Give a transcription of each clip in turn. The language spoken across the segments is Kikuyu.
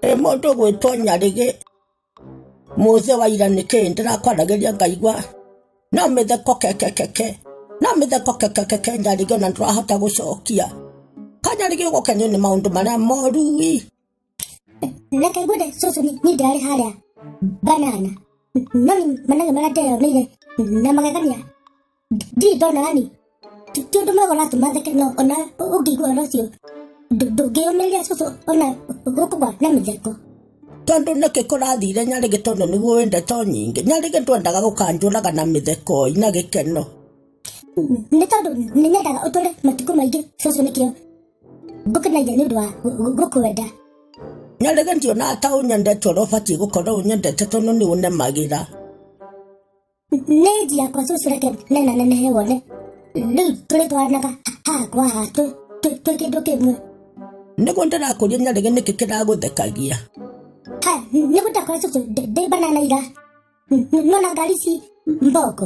ĩ mũndũ gwĩtwo nyarĩgĩ mũthĩ wa ira nĩkĩ ndĩrakwaragĩria ngaigua no mĩtheko kekekeke no mĩtheko kekekeke nyarĩgĩ ona ndũrahota gũcokia kanyarĩgĩ gũkenio nĩ maũndũ marĩa moru ii reke ngwende cũcũ nĩ- nĩ ndarĩ harĩa banana no nĩ manage marĩa ndeyonire na magegania ndirĩ ndona yani ti ti ũndũ mwega ũratũma theke no ona ũ- ũngĩigua ũhoro ũcio ndũ- ndũngĩyũmĩrĩria cũcũ ona ũkũgwa na mĩtheko tondå nä kä kå rathire nyarä gä tondå nä guo wä ndeto nyingä nyarä gä ndwendaga gå kanjåraga na mä thekoi na gä keno nĩ tondũ nĩ nyendaga ũtũre matukũ maingĩ cũcũ nĩkĩo ngũkenagia nĩ ũndũ wa gũ- gũ- gũkwenda na rĩngĩ ndiona ta ũnyendete ũrĩa ũbatiĩ gũkorwo ũnyendete tondũ nĩ ũnemagĩra nĩ nji yakwa cũcũ reke nena nenehe wone rĩu tũrĩ twaranaga haha kwa haha twĩ- twĩ- twĩ kĩndũ kĩmwe nĩguo ndĩrakũria na rĩngĩ nĩkĩ kĩragũthekagia ha nĩ gũtakora cũcũ ndĩ banana ira nona ngari ici mboko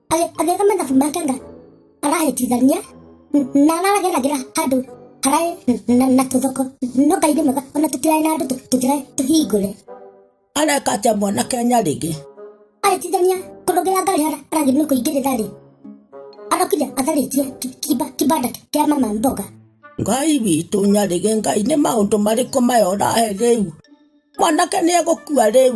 agĩka mathabu make nga arahĩtithania na arageragira handũ hararĩ na tũthoko no ngai nĩ mwega ona tũtiraĩ na andũ tũtiraĩ tũhingũre areka atĩa mwana kenya rĩngĩ arĩtithania kũrũgĩra ngari hara aragĩ nĩ kũingĩrĩra rĩ arokire atharĩtie kibanda kĩa mama mboga ngai witũ nyarĩge ngai nĩ maũndũ marĩkũ maya ũrahe rĩu mwanake nĩ egũkua rĩu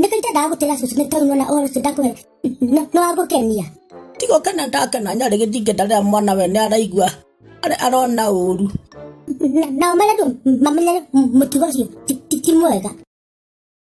nĩkaita ndagũtĩra cucu nĩ tondũ nona ũhoro ũcio ndakwĩra nĩ wagũkenia tigo kena ndakena nyarĩ gĩthingata rĩrĩa mwana we nĩ araigua arĩ arona ũru Na- nao marendwo mamenyere mũtugo ũcio ti- ti ti mwega